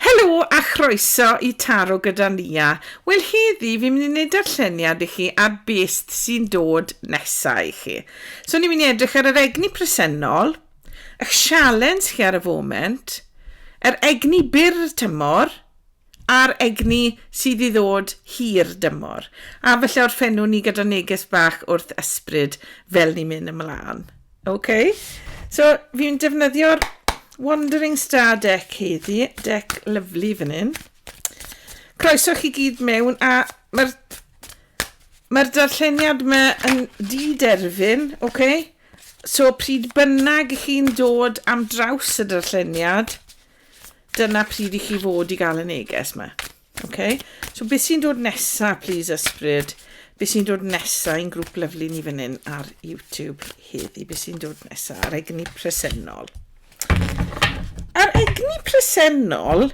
Helo a chroeso i Taro gyda Nia. Wel heddi fi'n mynd i wneud darlleniad i chi ar beth sy'n dod nesaf i chi. So ni'n mynd i edrych ar yr egni presennol, ych sialens chi ar y foment, yr egni byr tymor, a'r egni sydd i ddod hir dymor. A falle orffennwn ni gyda neges bach wrth ysbryd fel ni'n mynd ymlaen. Ok, so fi'n defnyddio'r Wandering Star deck heddi, deck lyflu fan hyn. Croeso chi gyd mewn a mae'r mae'r darlleniad yma yn di-derfyn, ok? So pryd bynnag i chi'n dod am draws y darlleniad, dyna pryd i chi fod i gael y neges yma. Ok, so beth sy'n dod nesa, please ysbryd? Beth sy'n dod nesa i'n grŵp lyflu ni fan hyn ar YouTube heddi? Beth sy'n dod nesa ar egni presennol? A'r egni presennol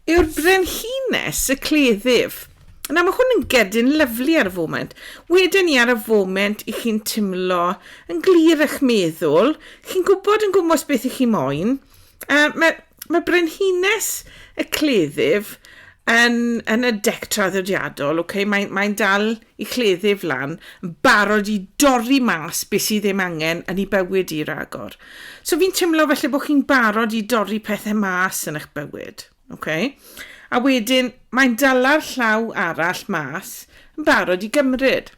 yw'r brenhines y cleddyf. Nawr mae hwn yn gedyn lyflu ar y foment. Wedyn ni ar y foment i chi'n timlo yn glir eich meddwl, chi'n gwybod yn gwmwys beth i chi moyn. Uh, mae Mae brenhines y cleddyf yn, yn y dec traddodiadol, okay? mae'n mae dal i chleddyf lan, yn barod i dorri mas beth sydd ddim angen yn ei bywyd i ragor. So fi'n teimlo felly bod chi'n barod i dorri pethau mas yn eich bywyd. Okay? A wedyn, Mae'n dala'r llaw arall mas yn barod i gymryd.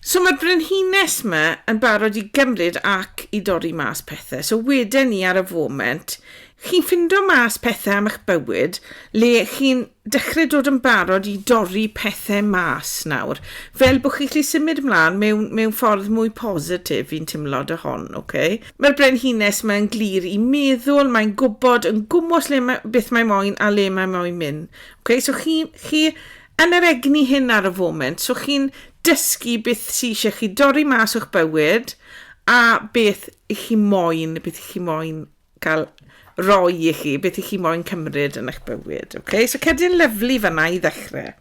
So mae'r brenhines ma yn barod i gymryd ac i dorri mas pethe. So weden i ar y foment, chi'n ffindo mas pethe am eich bywyd le chi'n dechre dod yn barod i dorri pethe mas nawr. Fel bod chi'n gallu symud mlan mewn mewn ffordd mwy positif fi'n timlo 'da hon, oce? Mae'r brenhines 'ma yn glir i meddwl, mae'n gwybod yn gwmws le mae, beth mae moyn a le mae moyn mynd. Okay? So chi, chi yn yr egni hyn ar y foment, so chi'n dysgu beth sy'n eisiau chi dorri mas o'ch bywyd a beth i chi moyn, beth i chi moyn cael roi i chi, beth i chi moyn cymryd yn eich bywyd. Okay? So cerdyn lyflu fanna i ddechrau.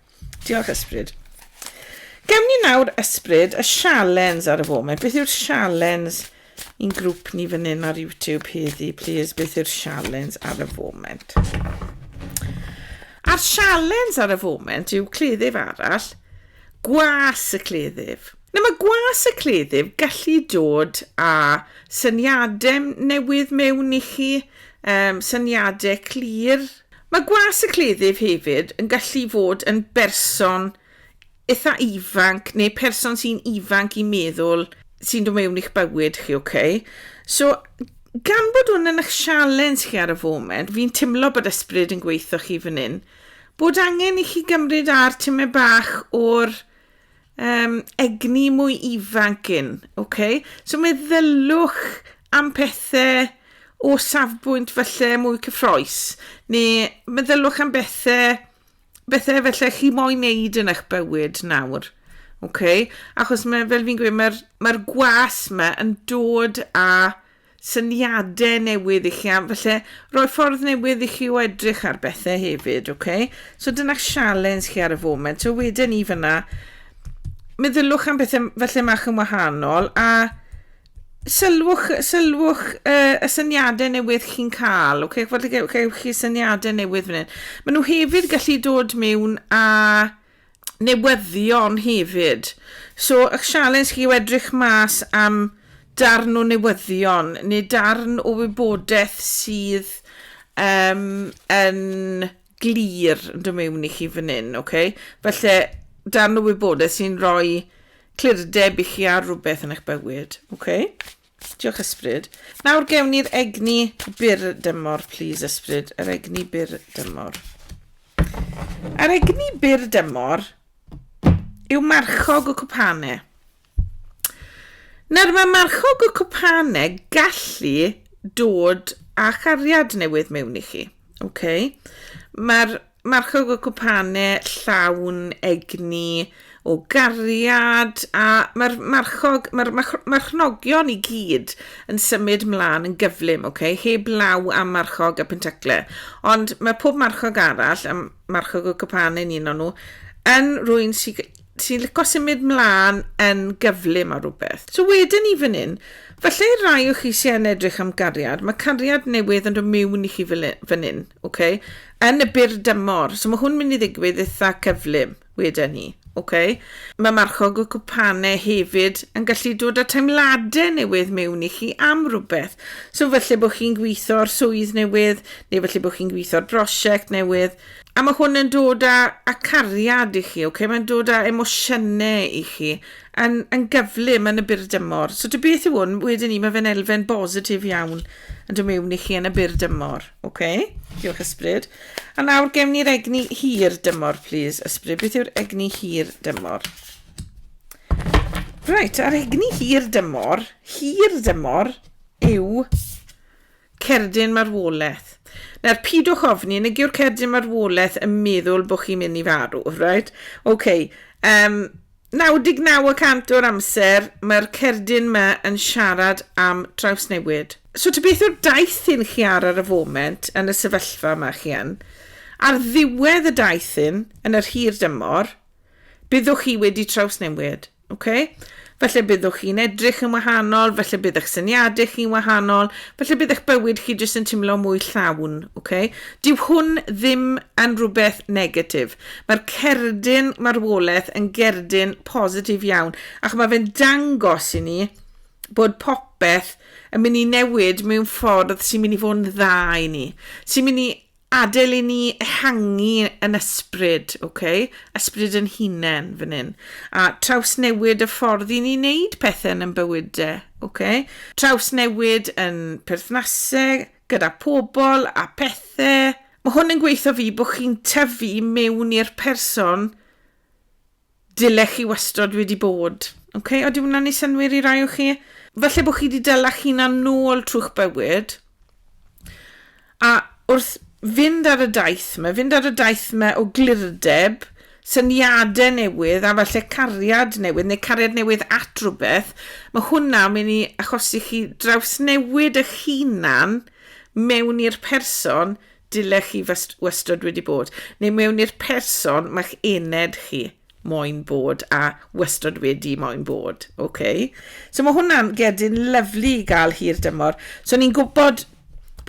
Diolch Ysbryd. Gawn ni nawr Ysbryd y sialens ar y foment. Beth yw'r sialens i'n grŵp ni fan hyn ar YouTube heddi, please? Beth yw'r sialens ar y foment? A'r sialens ar y foment yw cleddyf arall, gwas y cleddyf. Nawr mae gwas y cleddyf gallu dod â syniadau newydd mewn i chi, um, syniadau clir, Mae gwas y cleddyf hefyd yn gallu fod yn berson eitha ifanc neu person sy'n ifanc i meddwl sy'n dod mewn i'ch bywyd chi, ok? So, gan bod hwn yn eich sialens chi ar y foment, fi'n timlo bod ysbryd yn gweithio chi fan hyn, bod angen i chi gymryd ar timau bach o'r um, egni mwy ifanc yn, ok? So meddylwch am pethau o safbwynt falle mwy cyffroes, neu meddylwch am bethau, bethau felly chi moyn neud yn eich bywyd nawr. ok? Achos mae, fel fi'n gweud, mae'r mae gwas yma yn dod â syniadau newydd i chi a falle rhoi ffordd newydd i chi o edrych ar bethau hefyd, ok? So dyna sialens chi ar y foment. So wedyn ni fyna, meddyliwch am bethau falle mach yn wahanol a sylwch, sylwch uh, y syniadau newydd chi'n cael, ok? Falle gewch chi syniadau newydd fan hyn. Maen nhw hefyd gallu dod mewn a newyddion hefyd. So, ych sialens chi yw edrych mas am darn o newyddion neu darn o wybodaeth sydd um, yn glir yn dod mewn i chi fan hyn, okay? Felly, darn o wybodaeth sy'n rhoi clirdeb i chi ar rhywbeth yn eich bywyd, okay? Diolch Ysbryd. Nawr gewn ni'r egni byr dymor, please Ysbryd. Yr egni byr dymor. Yr egni byr dymor yw marchog y cwpane. Nawr mae marchog y cwpane gallu dod â chariad newydd mewn i chi. Okay? Mae'r Marco y cwpane llawn egni o gariad a mae'r marchog, mae'r marchnogion i gyd yn symud mlaen yn gyflym, ok, heb law am marchog y pentacle. Ond mae pob marchog arall, a marchog y cwpane yn un o'n nhw, yn rwy'n sy'n Ti'n lico symud mlaen yn gyflym ar rhywbeth. So wedyn ni fan hyn, falle i'r rai o chi sy'n yn edrych am gariad, mae cariad newydd yn dod miwn i chi fan hyn, okay? yn y bur dymor. So mae hwn mynd i ddigwydd eitha cyflym wedyn ni. Okay? Mae marchog y cwpanau hefyd yn gallu dod â teimladau newydd mewn i chi am rhywbeth. So falle bod chi'n gweithio'r swydd newydd, neu falle bod chi'n gweithio'r brosiect newydd, A mae hwn yn dod â, â cariad i chi, ok? Mae'n dod â emosiynau i chi yn, yn gyflym yn y byr dymor. So dy beth yw hwn, wedyn ni, mae fe'n elfen bositif iawn yn dod mewn i chi yn y byr dymor. Ok? Diolch ysbryd. A nawr gem ni'r egni hir dymor, please, ysbryd. Beth yw'r egni hir dymor? Right, a'r egni hir dymor, hir dymor yw Cerdyn marwolaeth. Nawr, pidwch ofni, nag yw'r cerdyn marwolaeth yn meddwl bod chi'n mynd i farw, right? OK. Um, 99 y cant o'r amser, mae'r cerdyn yma yn siarad am trawsnewid. So, ta beth yw'r daith hyn chi ar ar y foment yn y sefyllfa yma chi yn, ar ddiwedd y daith hyn, yn yr hir dymor, byddwch chi wedi trawsnewid. Okay? Felly byddwch chi'n edrych yn wahanol, felly bydd eich syniadau chi'n wahanol, felly bydd eich bywyd chi jyst yn teimlo mwy llawn. Okay? Dyw hwn ddim yn rhywbeth negatif. Mae'r cerdyn marwolaeth yn gerdyn positif iawn, ac mae fe'n dangos i ni bod popeth yn mynd i newid mewn ffordd sy'n mynd i fod yn dda i ni, sy'n mynd i Adael i ni ehangu yn ysbryd, ok? Ysbryd yn hunain, fan hyn. A trawsnewid y ffordd i ni wneud pethau yn yn bywyd de, ok? Trawsnewid yn perthnasau, gyda pobl a pethau. Mae hwn yn gweithio fi bod chi'n tyfu mewn i'r person Dylech chi wastod wedi bod. Ok, o di hwnna'n ei synwyr i rai o chi? Falle bod chi wedi dylach hunan nôl trwy'ch bywyd. A wrth fynd ar y daith yma, fynd ar y daith yma o glirdeb, syniadau newydd a falle cariad newydd neu cariad newydd at rhywbeth, mae hwnna mynd i achosi chi drawsnewid eich hunan mewn i'r person dylech chi wastod wedi bod, neu mewn i'r person mae'ch ened chi moyn bod a wastod wedi moyn bod. Okay. So mae hwnna'n gedyn lyflu i gael hir dymor. So ni'n gwybod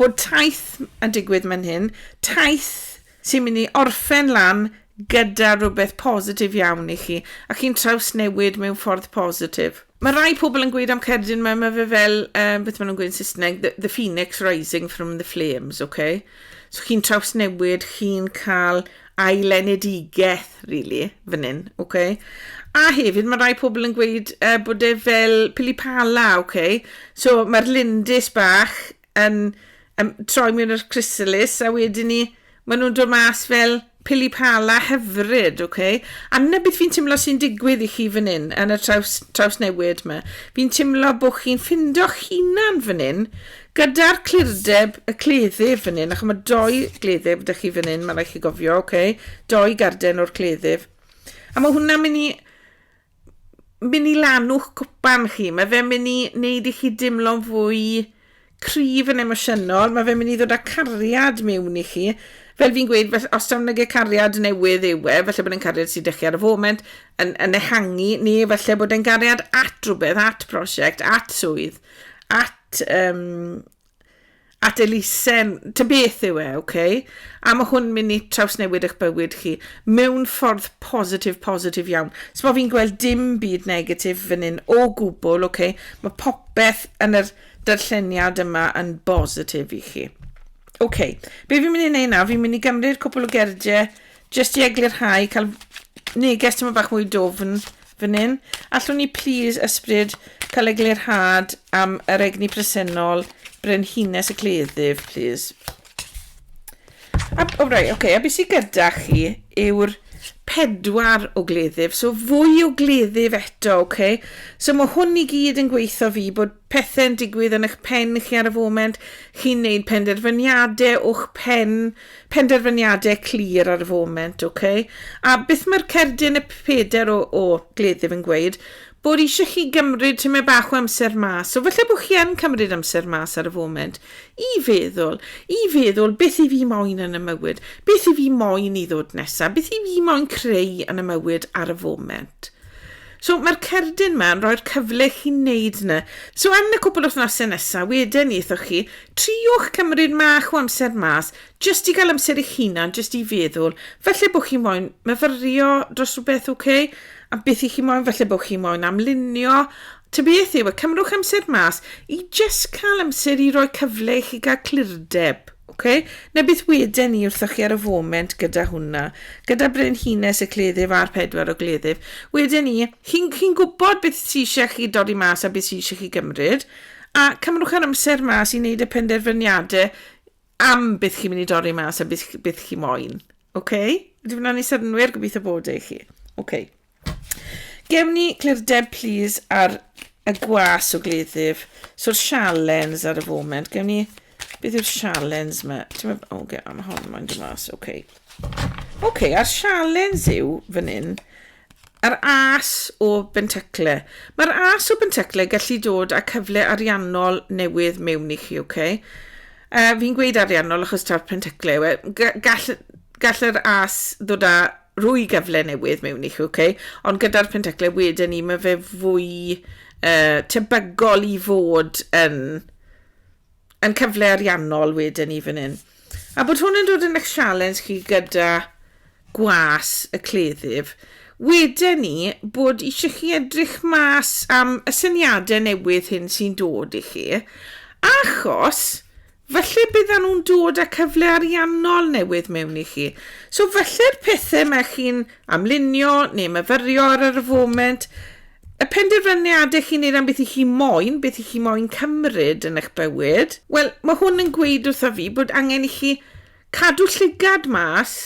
bod taith yn digwydd mewn hyn, taith sy'n mynd i orffen lan gyda rhywbeth positif iawn i chi, a chi'n trawsnewid mewn ffordd positif. Mae rhai pobl yn gweud am cerdyn mae mae fe fel um, beth maen nhw'n gweud yn Saesneg the, the phoenix rising from the flames okay so chi'n trawsnewid chi'n cael ailenedigaeth really fan hyn okay a hefyd mae rhai pobl yn gweud uh, bod e fel pili pala okay so mae'r lindys bach yn um, troi mewn yr chrysalis a wedyn ni maen nhw'n dod mas fel pili pala hyfryd, oce? Okay? A na beth fi'n teimlo sy'n digwydd i chi fan hyn, yn y traws, traws newid yma. Fi'n teimlo bod chi'n ffindo'ch hunan fan hyn, gyda'r clirdeb y cleddyf fan hyn, ac mae doi gleddyf ydych chi fan hyn, mae rhaid chi gofio, oce? Okay? Doi garden o'r cleddyf. A mae hwnna'n mynd i mynd i lanw'ch cwpan chi, mae fe'n mynd i wneud i chi dimlo'n fwy cryf yn emosiynol, mae fe'n mynd i ddod â cariad mewn i chi. Fel fi'n gweud, fel, os tawn nage cariad newydd yw e, felly bod e'n cariad sy'n dechrau ar y foment, yn, yn ehangu, neu felly bod e'n gariad at rhywbeth, at prosiect, at swydd, at um, at elusen, ta beth yw e, ok? A mae hwn mynd i trawsnewid eich bywyd chi mewn ffordd positif, positif iawn. So mae fi'n gweld dim byd negatif fan hyn o gwbl, ok? Mae popeth yn yr darlleniad yma yn bositif i chi. Ok, be fi'n mynd i wneud nawr, fi'n mynd i gymryd cwpl o gerdiau Jyst i eglurhau, cael neges tyma bach mwy dwfn fan hyn. Allwn ni plis ysbryd cael eglurhad am yr egni presennol brenhines y cleddyf, plis. A, o, rai, oce, okay, a beth sydd gyda chi yw'r pedwar o gleddyf, so fwy o gleddyf eto, oce. Okay? So mae hwn i gyd yn gweithio fi bod pethe'n digwydd yn eich pen chi ar y foment, chi'n wneud penderfyniadau o'ch pen, penderfyniadau clir ar y foment, ok? A beth mae'r cerdyn y peder o, o gleddyf yn gweud? Bod eisiau chi gymryd tymed bach o amser mas, so falle bod chi yn cymryd amser mas ar y foment, i feddwl, i feddwl beth i fi moyn yn y mywyd, beth i fi moyn i ddod nesaf, beth i fi moyn creu yn y mywyd ar y foment. So mae'r cerdyn ma'n rhoi'r cyfle i chi wneud yna. So yn y cwpl wythnosau nesaf, wedyn ni eithoch chi, triwch cymryd mach o amser mas, jyst i gael amser eich hunan, jyst i feddwl, falle bod chi moyn myfyrio dros rhywbeth, ok? A beth i chi moyn, falle bod chi moyn amlunio. Ta beth yw, e, cymrwch amser mas i jyst cael amser i roi cyfle i chi gael clirdeb. Ok, na beth weden i wrthoch chi ar y foment gyda hwnna, gyda brenhines y cleddyf a'r pedwar o gleddyf, weden i, chi'n chi gwybod beth sy'n eisiau chi dodi mas a beth sy'n eisiau chi gymryd, a cymrwch yr amser mas i wneud y penderfyniadau am beth chi'n mynd i dodi mas a beth, beth chi moyn. Ok, ydy hwnna'n ei synnwyr, gobeithio bod e i chi. Ok. Gewn ni clirdeb plîs ar y gwas o gleddyf. So'r sialens ar y foment. Gewn ni... Beth yw'r sialens yma? Ti'n meddwl... O, okay, am hon mae'n dod mas. Oce. Okay. Oce, okay, a'r sialens yw fan hyn. Yr as o bentacle. Mae'r as o bentacle gallu dod â cyfle ariannol newydd mewn i chi, oce? Okay? Uh, fi'n gweud ariannol achos ta'r pentacle yw e. Gall, gall yr as ddod â rhoi cyfle newydd mewn i chi, ok? Ond gyda'r penteclau wedyn ni, mae fe fwy uh, tebygol i fod yn, yn cyfle ariannol wedyn ni fan hyn. A bod hwn yn dod yn eich sialens chi gyda gwas y cleddyf, wedyn ni bod eisiau chi edrych mas am y syniadau newydd hyn sy'n dod i chi, achos Falle byddan nhw'n dod â cyfle ariannol newydd mewn i chi. So falle'r pethau mae chi'n amlunio neu myfyrio ar yr foment, y penderfyniadau chi'n neud am beth i chi moyn, beth i chi moyn cymryd yn eich bywyd, wel, mae hwn yn gweud wrtha fi bod angen i chi cadw llygad mas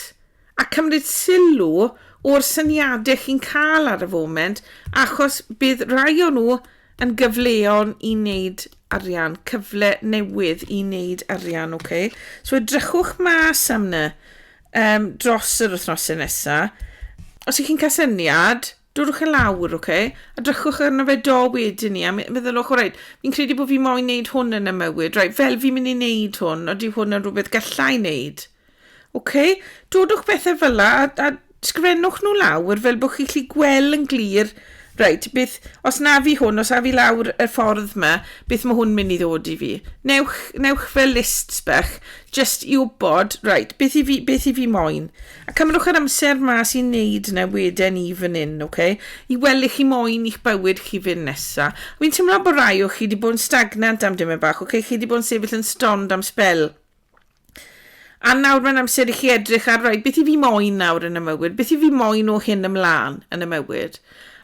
A cymryd sylw o'r syniadau chi'n cael ar y foment achos bydd rai o nhw yn gyfleon i wneud arian, cyfle newydd i wneud arian, ok? So edrychwch mas am ny um, dros yr wythnosau nesaf. Os ych chi'n cael syniad, dwrwch yn lawr, ok? A drychwch arno fe do wedyn ni, a meddylwch, o rhaid, fi'n credu bod fi moyn wneud hwn yn y mywyd, rhaid, fel fi'n mynd i wneud hwn, oeddi hwn yn rhywbeth gallai wneud. Ok, dodwch bethau fel la a, a sgrifennwch nhw lawr fel bod chi'n gallu gweld yn glir, reit, beth, os na fi hwn, os na fi lawr y ffordd yma, beth mae hwn mynd i ddod i fi. Newch, newch fel lists bach, just i wybod, reit, beth i fi, beth i fi moyn. A cymrwch yr amser mas i wneud na weden i fan hyn, ok? I weld lle chi moyn i'ch bywyd chi fynd nesa. Fi'n teimlo bod rai o chi wedi bod yn stagnant am dyma bach, ok? Chi wedi bod yn sefyll yn stond am spel. A nawr mae'n amser i chi edrych ar, right, beth i fi moyn nawr yn y mywyd? Beth i fi moyn o hyn ymlaen yn y mywyd?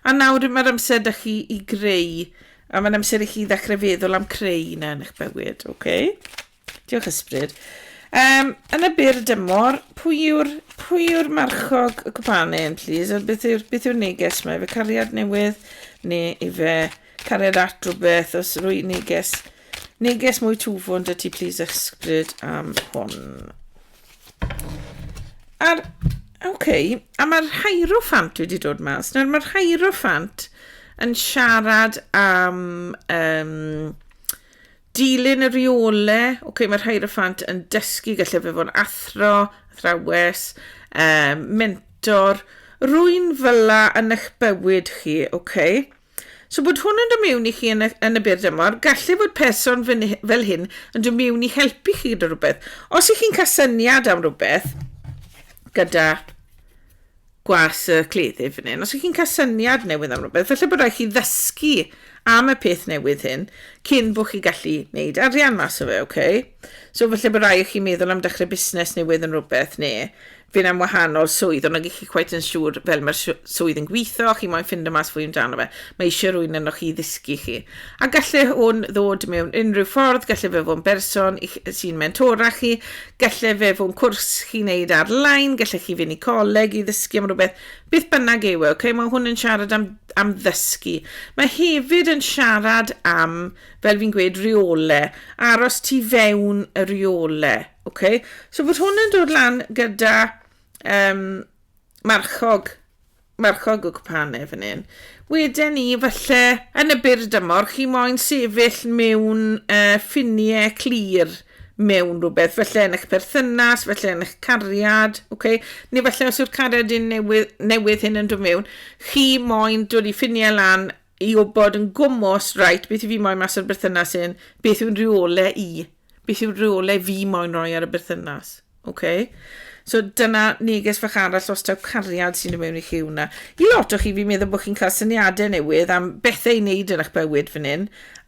A nawr mae'r amser da chi i greu, a mae'n amser i chi ddechrau feddwl am creu yna yn eich bywyd, oce? Okay? Diolch ysbryd. Um, yn y byr dymor, pwy yw'r pwy yw'r marchog y cwpane yn, please? A beth yw'r beth yw'r neges mae? Fe cariad newydd neu ife Cariad at rhywbeth os rwy neges. Neges mwy twfwn dy ti please ysbryd am hwn. A'r, oce, okay, a mae'r hierophant wedi dod mas. Nawr mae'r hierophant yn siarad am um, dilyn y rheole. Oce, okay, mae'r hierophant yn dysgu, gallai fe fod yn athro, athrawes, um, mentor, rwy'n fyla yn eich bywyd chi, oce? Okay? So bod hwn yn dod mewn i chi yn y, yn y byr dymor, gallu fod person fel hyn yn dod mewn i helpu chi gyda rhywbeth. Os ych chi'n cael syniad am rhywbeth gyda gwas y cleddyf fan hyn, os ych chi'n cael syniad newydd am rhywbeth, felly bod rhaid chi ddysgu am y peth newydd hyn cyn bod chi gallu gwneud arian mas o fe, oce? Okay? So felly bod rhaid chi meddwl am dechrau busnes newydd yn rhywbeth neu fyn am wahanol swydd, ond nag ych chi cweit yn siŵr fel mae'r swydd yn gweithio, chi moyn ffindo mas fwy amdano fe, mae eisiau rwy'n yno chi ddysgu chi. A gallai hwn ddod mewn unrhyw ffordd, gallai fe fod yn berson sy'n mentora chi, gallai fe fod yn cwrs chi'n neud ar-lein, gallai chi fynd i coleg i ddysgu am rhywbeth, beth bynnag yw e, okay? mae hwn yn siarad am, am ddysgu. Mae hefyd yn siarad am, fel fi'n gweud, reole, aros tu fewn y reole. Ok, so bod hwn yn dod lan gyda um, marchog, marchog o cwpane fan hyn. Wedyn ni, falle, yn y byr dymor, chi moyn sefyll mewn uh, ffiniau clir mewn rhywbeth, felly yn eich perthynas, felly yn eich cariad, okay? neu felly os yw'r cariad yn newydd, newydd hyn yn dod mewn, chi moyn dod i ffiniau lan i wybod yn gwmws, reit, beth i fi moyn mas o'r berthynas hyn, beth yw'n rheole i, beth yw'r rheole fi moyn roi ar y berthynas. Okay? So dyna neges fach arall os taw cariad sy'n dod mewn i chi hwnna. I lot o chi fi'n meddwl bod chi'n cael syniadau newydd am bethau i wneud yn eich bywyd fan hyn,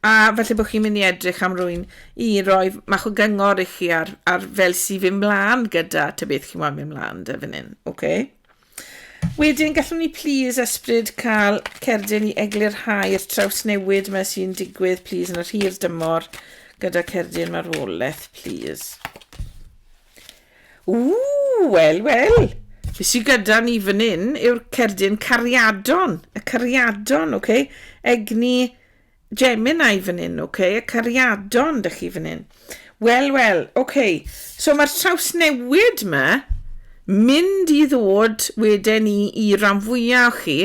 a falle bod chi'n mynd i edrych am rwy'n i roi mach o gyngor i chi ar, ar fel sy'n fy mlaen gyda ta beth chi'n moyn mynd mlaen dy fan hyn. Okay? Wedyn, gallwn ni plîs, Esbryd, cael cerdyn i eglurhau'r trawsnewid yma sy'n digwydd, plîs, yn yr hir dymor gyda cerdyn marwolaeth, plîs. Ww, wel, wel. Be sy'n gyda ni fan hyn yw'r cerdyn cariadon. Y cariadon, oce? Okay? Egni Gemini fan hyn ok, y cariadon dych chi fan hyn. Wel wel, ok, so mae'r trawsnewid ma mynd i ddod wedyn ni i ran fwyaf o chi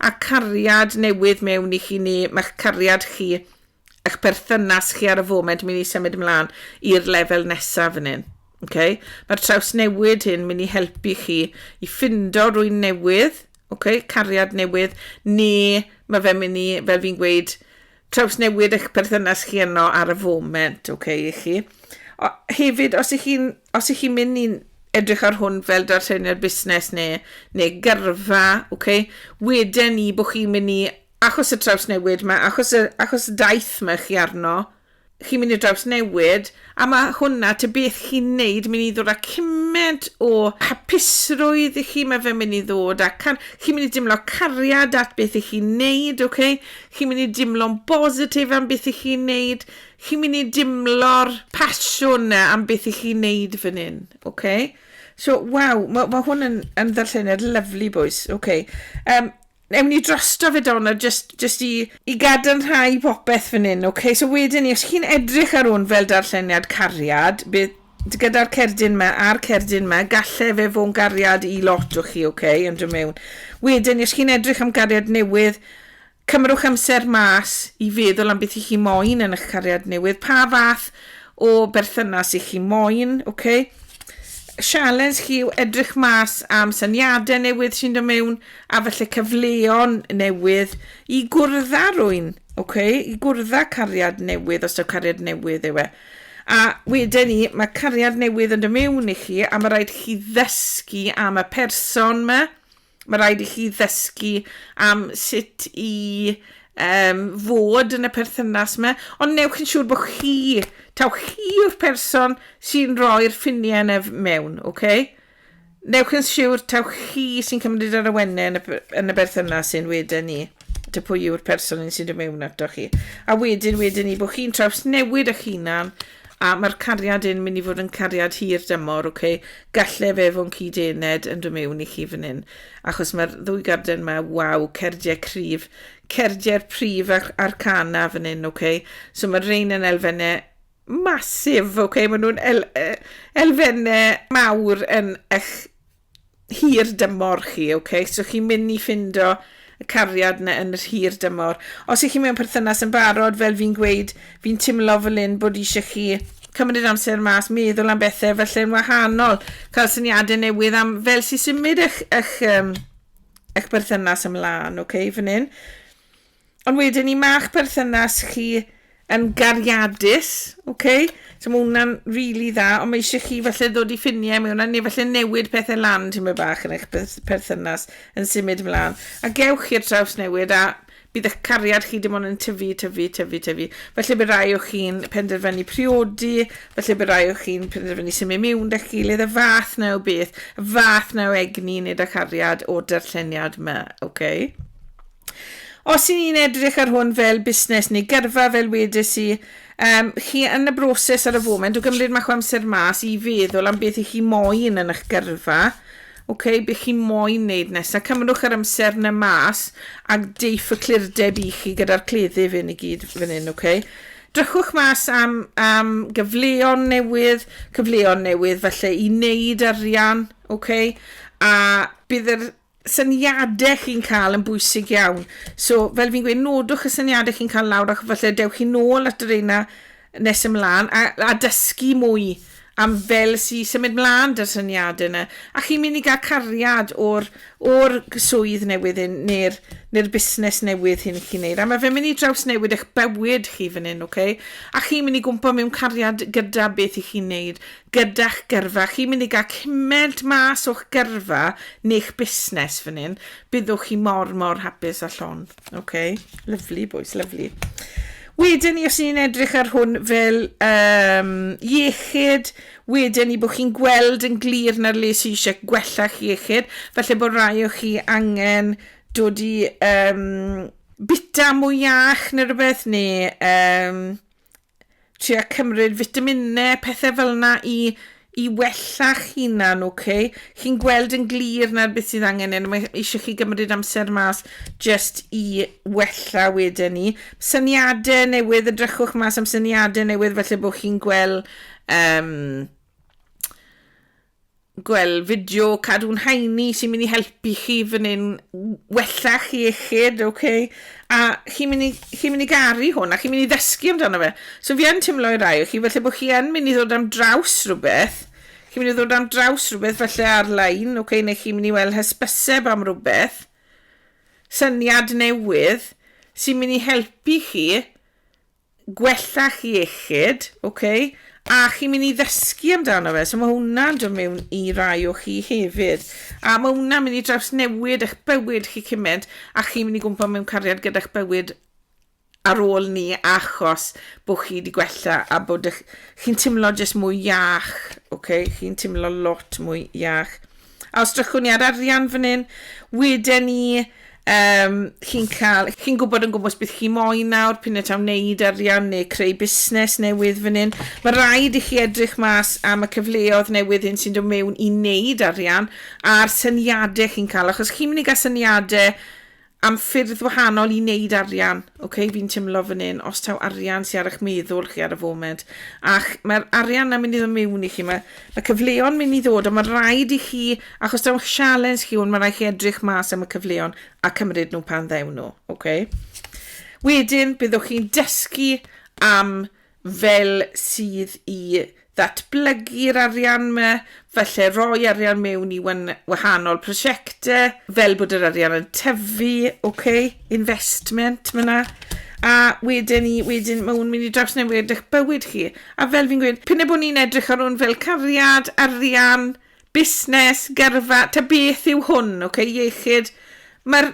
a cariad newydd mewn i chi neu mae'ch cariad chi eich perthynas chi ar y foment mynd i symud ymlaen i'r lefel nesaf fan hyn. Okay? Mae'r trawsnewid hyn mynd i helpu chi i ffindo rwy'n newydd, okay? cariad newydd, neu mae fe'n mynd i, fel fi'n gweud, trawsnewid eich perthynas chi yno ar y foment, okay, i chi. O, hefyd, os ych chi'n chi mynd i'n edrych ar hwn fel darlleniad busnes neu, neu gyrfa, okay, wedyn ni bod chi'n mynd i achos y trawsnewid mae achos y, achos y daith mae chi arno, chi'n mynd i drawsnewid, a ma' hwnna ta beth chi'n wneud mynd i ddod â cymaint o hapusrwydd i chi, mae fe'n mynd i ddod â car- chi'n mynd i dimlo cariad at beth i chi'n wneud, ok? Chi'n mynd i dimlo'n bositif am beth i chi'n wneud, chi'n mynd i dimlo'r pasiwn na am beth i chi'n wneud fan hyn, ok? So, waw, mae ma hwn yn, yn ddarlleniad lyflu, boys, ok? Um, Ewn ni drosto fe Donna, jyst, jyst i, i gadarnhau popeth fan hyn, okay? So wedyn ni, os chi'n edrych ar hwn fel darlleniad cariad, bydd gyda'r cerdyn yma a'r cerdyn yma, galle fe fo'n gariad i lot o chi, okay, yn dod mewn. Wedyn ni, os chi'n edrych am gariad newydd, cymrwch amser mas i feddwl am beth i chi moyn yn eich cariad newydd, pa fath o berthynas i chi moyn, okay? Sialens chi yw edrych mas am syniadau newydd sy'n dod mewn, a falle cyfleon newydd i gwrdd â rwy'n, oce, i gwrdd â cariad newydd, os yw cariad newydd yw e. A wedyn ni, mae cariad newydd yn dy mewn i chi, a mae rhaid i chi ddysgu am y person yma, Mae rhaid i chi ddysgu am sut i um, fod yn y perthynas yma, ond newch yn siŵr bod chi, taw chi yw'r person sy'n rhoi'r ffiniau yna mewn, oce? Okay? Newch yn siwr taw chi sy'n cymryd yr awennau yn y, yn y berthynas sy'n wedyn ni dy pwy yw'r person yn sy'n dod mewn ato chi. A wedyn, wedyn ni, bod chi'n traws newid eich hunan, a mae'r cariad yn mynd i fod yn cariad hir dymor, oce? Okay? Galle fe fo'n cyd-ened yn dod mewn i chi fan hyn, achos mae'r ddwy garden yma, waw, cerdiau cryf, cerdiau'r prif a'r, a'r cana fan hyn, oce? Okay? So mae'r rein yn elfennau massive, ok, maen nhw'n el, elfennau mawr yn eich hir dymor chi, ok, so chi'n mynd i ffindo y cariad na yn yr hir dymor. Os ych chi mewn perthynas yn barod, fel fi'n gweud, fi'n timlo fel un bod eisiau chi cymryd amser mas, meddwl am bethau felly yn wahanol, cael syniadau newydd am fel sy'n symud eich, eich, um, eich berthynas ymlaen, oce, okay, fan hyn. Ond wedyn i ma'ch perthynas chi yn gariadus, ok? So mae hwnna'n really dda, ond mae eisiau chi falle ddod i ffiniau mewn a neu falle newid pethau lan ti'n mynd bach yn eich perthynas yn symud ymlaen. A gewch i'r traws newid a bydd eich cariad chi dim ond yn tyfu, tyfu, tyfu, tyfu. Felly bydd rai o chi'n penderfynu priodi, felly bydd rai o chi'n penderfynu symud mewn da'ch gilydd, y fath na o beth, y fath na o egni nid â chariad o'r darlleniad yma, oce? Okay? Os y'n ni'n edrych ar hwn fel busnes neu gyrfa, fel wedes i, um, chi yn y broses ar y foment o gymryd mach o amser mas i feddwl am beth i chi moyn yn eich gyrfa, okay, beth chi moyn wneud nesaf, cymrwch yr amser na mas a deiff y clirdeb i chi gyda'r cleddyf hyn i gyd fan hyn, okay. Drychwch mas am, am gyfleon newydd, cyfleon newydd falle i wneud arian, okay, a bydd yr syniadau chi'n cael yn bwysig iawn. So, fel fi'n gweud, nodwch y syniadau chi'n cael lawr ac falle dewch chi nôl at y reina nes ymlaen a, a dysgu mwy am fel si symud mlaen dy'r syniadau yna. A chi'n mynd i gael cariad o'r, or swydd newydd hyn neu'r neu busnes newydd hyn chi'n neud. A mae fe'n mynd i draws newid eich bywyd chi fan hyn, oce? Okay? A chi'n mynd i gwmpa mewn cariad gyda beth i chi'n neud. gyda'ch gyrfa, chi'n mynd i gael cymaint mas o'ch gyrfa neu'ch busnes fan hyn, byddwch chi mor mor hapus a llon. Ok, lyfli bois, lyfli. Wedyn ni, os ni'n edrych ar hwn fel um, iechyd, wedyn ni bod chi'n gweld yn glir na'r le sy'n eisiau gwella'ch iechyd, felly bod rai o chi angen dod i um, bita mwy iach neu rhywbeth, neu um, Tria cymryd fitaminau, pethau fel yna i i wella'ch hunan, ocê? Chi'n gweld yn glir nawr beth sydd angen hyn, mae eisiau chi gymryd amser mas jyst i wella wedyn ni. Syniadau newydd, edrychwch mas am syniadau newydd falle bod chi'n gweld um, gwel fideo cadw'n haeni sy'n mynd i helpu chi fan hyn wella chi iechyd, oce? Okay? A chi'n mynd, chi mynd i garu hwn a chi'n mynd i ddysgu amdano fe. So fi yn teimlo i rai o chi felly bod chi yn mynd i ddod am draws rhywbeth, chi'n mynd i ddod am draws rhywbeth felly ar-lein, oce? Okay? Neu chi'n mynd i weld hysbyseb am rhywbeth, syniad newydd, sy'n mynd i helpu chi gwella'ch iechyd, ok, a chi'n mynd i ddysgu amdano fe, so mae hwnna'n dod mewn i rai o chi hefyd, a mae hwnna'n mynd i drawsnewid eich bywyd chi cymaint, a chi'n mynd i gwmpa mewn cariad gyda'ch bywyd ar ôl ni achos bod chi wedi gwella a bod chi'n timlo jyst mwy iach, ok, chi'n timlo lot mwy iach. A os drychwn ni ar arian fan hyn, weden ni, um, chi'n cael, chi'n gwybod yn gwmwys beth chi moyn nawr, pyn y taw wneud arian neu creu busnes newydd fan hyn. Mae rhaid i chi edrych mas am y cyfleoedd newydd hyn sy'n dod mewn i wneud arian a'r syniadau chi'n cael, achos chi'n mynd i gael syniadau am ffyrdd wahanol i wneud arian, ok, fi'n timlo fan hyn, os taw arian sy'n ar eich meddwl chi ar y foment, ac mae'r arian na mynd i ddod mewn i chi, mae, mae cyfleon mynd i ddod, ond mae'n rhaid i chi, achos taw eich sialens chi hwn, mae'n rhaid chi edrych mas am y cyfleon a cymryd nhw pan ddew nhw, ok. Wedyn, byddwch chi'n dysgu am fel sydd i ddatblygu'r arian yma, falle roi arian mewn i wan- wahanol prosiectau, fel bod yr arian yn tyfu, ok, investment ma' 'na, a wedyn 'ny, wedyn ma' hwn mynd i drawsnewid eich bywyd chi, a fel fi'n gweud, p'un a bo' ni'n edrych ar hwn fel cariad, arian, busnes, gyrfa, ta beth yw hwn, ok, iechyd, ma'r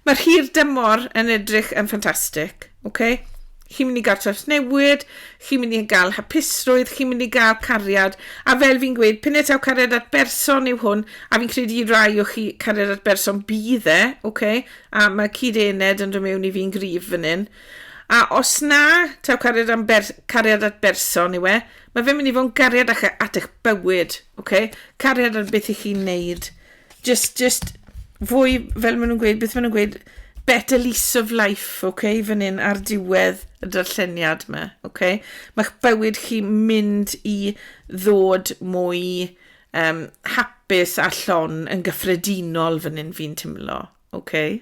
Mae'r hir dymor yn edrych yn ffantastig, ok? Chi'n mynd i gael trawsnewid, chi'n mynd i gael hapusrwydd, chi'n mynd i gael cariad, a fel fi'n gweud, pine taw cariad at berson yw hwn, a fi'n credu i rai o chi cariad at berson bydd e, ok? A mae cyd-ened yn dod mewn i fi'n gryf fan hyn. A os na, taw cariad, am ber, cariad at berson yw e, mae fe'n mynd i fod yn gariad at eich bywyd, ok? Cariad ar beth i chi'n neud. Just, just, fwy, fel maen nhw'n gweud, beth maen nhw'n gweud, better lease of life, oce, okay, fan hyn ar diwedd y darlleniad yma, oce. Okay? Mae'ch bywyd chi mynd i ddod mwy um, hapus a llon yn gyffredinol fan hyn fi'n timlo, oce. Okay?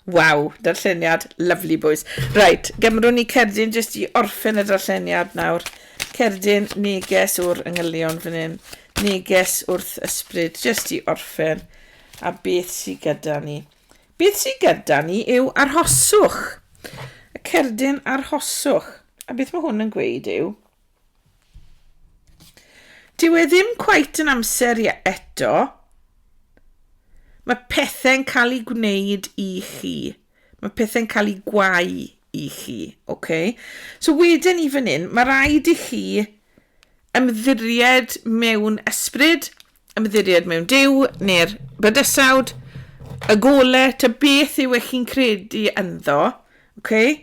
Waw, darlleniad lyfli bwys. Reit, gymrwn ni cerdyn jyst i orffen y darlleniad nawr. Cerdyn neges o'r yngylion fan hyn. Neges wrth ysbryd jyst i orffen. A beth sy'n gyda ni? Beth sy'n gyda ni yw arhoswch. Y cerdyn arhoswch. A beth mae hwn yn gweud yw, Dyw e ddim cweit yn amser i eto. Mae pethau'n cael ei gwneud i chi. Mae pethau'n cael ei gwau i chi. Okay? So wedyn i fan hyn, mae rhaid i chi ymddiried mewn ysbryd ymddiried mewn Duw, neu'r bydysawd, y golau, ta beth yw eich chi'n credu ynddo, okay?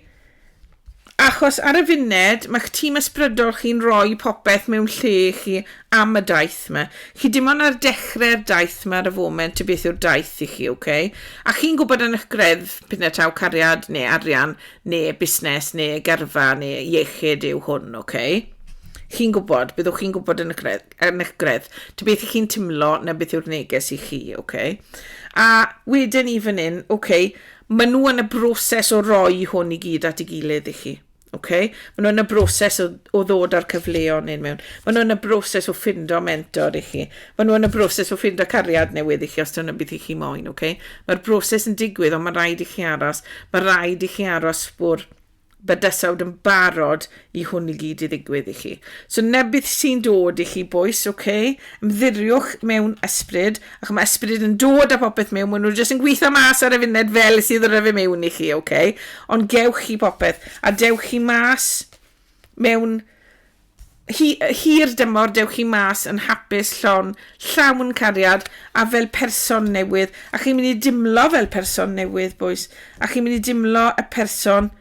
achos ar y funed mae'ch tîm ysbrydol chi'n rhoi popeth mewn lle i chi am y daith yma. Chi dim ond ar dechrau'r daith yma ar y foment y beth yw'r daith i chi, okay? a chi'n gwybod yn eich greddf pethau taw cariad neu arian neu busnes neu gyrfa neu iechyd yw hwn, okay? chi'n gwybod, byddwch chi'n gwybod yn y greddf. Er megredd, ta beth y'ch chi'n timlo na beth yw'r neges i chi, oce? A wedyn ni fan hyn, oce, ma' nhw yn y broses o roi hwn i gyd at ei gilydd i chi, oce? Ma' nhw yn y broses o o ddod â'r cyfleon hyn mewn. Ma' nhw yn y broses o ffindo mentor i chi. Ma' nhw yn y broses o ffindo cariad newydd i chi os dyna beth y'ch chi moyn, oce? Ma'r broses yn digwydd ond ma' raid i chi aros. Ma' raid i chi aros fwrw bydysawd yn barod i hwn i gyd i ddigwydd i chi. So nebydd sy'n dod i chi boes, oce, okay? ymddiriwch mewn ysbryd, ac mae ysbryd yn dod a popeth mewn, maen nhw jyst yn gweithio mas ar y funed fel sydd ddod â fe mewn i chi, oce? Okay? Ond gewch chi popeth, a dewch chi mas mewn Hi, hir dymor dewch chi mas yn hapus, llon, llawn cariad a fel person newydd. A chi'n mynd i dimlo fel person newydd, boys. A chi'n mynd i dimlo y person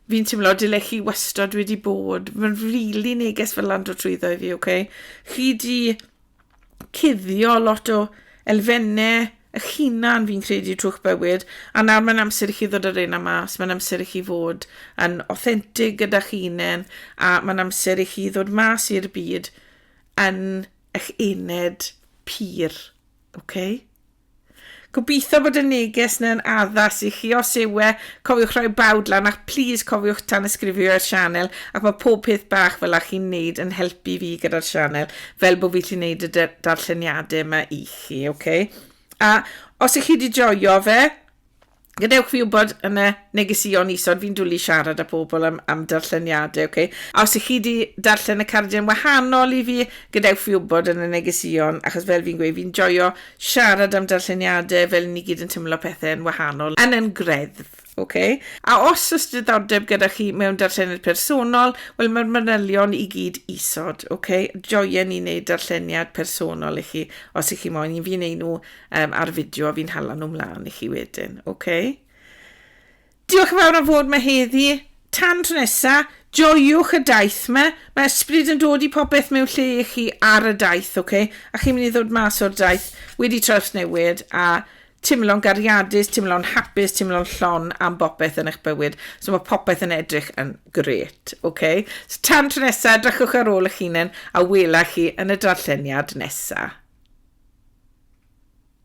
fi'n timlo dyle chi wastod wedi bod. Mae'n rili really neges fel lan dod trwyddo i fi, oce? Okay? Chi di cuddio lot o elfenne y hunan fi'n credu trwy'ch bywyd, a nawr mae'n amser i chi ddod ar ein am mas, mae'n amser i chi fod yn authentic gyda'ch unen, a mae'n amser i chi ddod mas i'r byd yn eich ened pur, oce? Okay? Gobeithio bod y neges neu'n addas i chi, os yw e, cofiwch roi bawd lan ac plîs cofiwch tanysgrifio i'r sianel ac mae pob peth bach fel a chi'n neud yn helpu fi gyda'r sianel fel bod fi llu neud y darlleniadau yma i chi, ok? A os i chi di joio fe, Gadewch fi wybod yn y negesïon isod, fi'n dwli siarad â pobl am, am darlleniadau, oce? Okay? A os ych chi wedi darllen y cardiau'n wahanol i fi, gadewch fi wybod yn y negesïon, achos fel fi'n gweud, fi'n joio siarad am darlleniadau fel ni gyd yn tymlo pethau yn wahanol, yn yn greddf. Okay? A os oes diddordeb gyda chi mewn darllenydd personol, wel mae'r manylion i gyd isod. Okay? Joien ni wneud darlleniad personol i chi, os ych chi moyn. Fi'n ei nhw um, ar y fideo a fi'n hala nhw mlaen i chi wedyn, oce? Okay? Diolch yn fawr am fod mae heddi. Tan tro nesa, joiwch y daith yma. Mae ysbryd yn dod i popeth mewn lle i chi ar y daith, oce? Okay? A chi'n mynd i ddod mas o'r daith wedi trawsnewid a timlo'n gariadus, timlo'n hapus, timlo'n llon am bopeth yn eich bywyd. So mae popeth yn edrych yn gret. Ok, so tan tro nesa, edrychwch ar ôl eich hunain a wela chi yn y darlleniad nesa.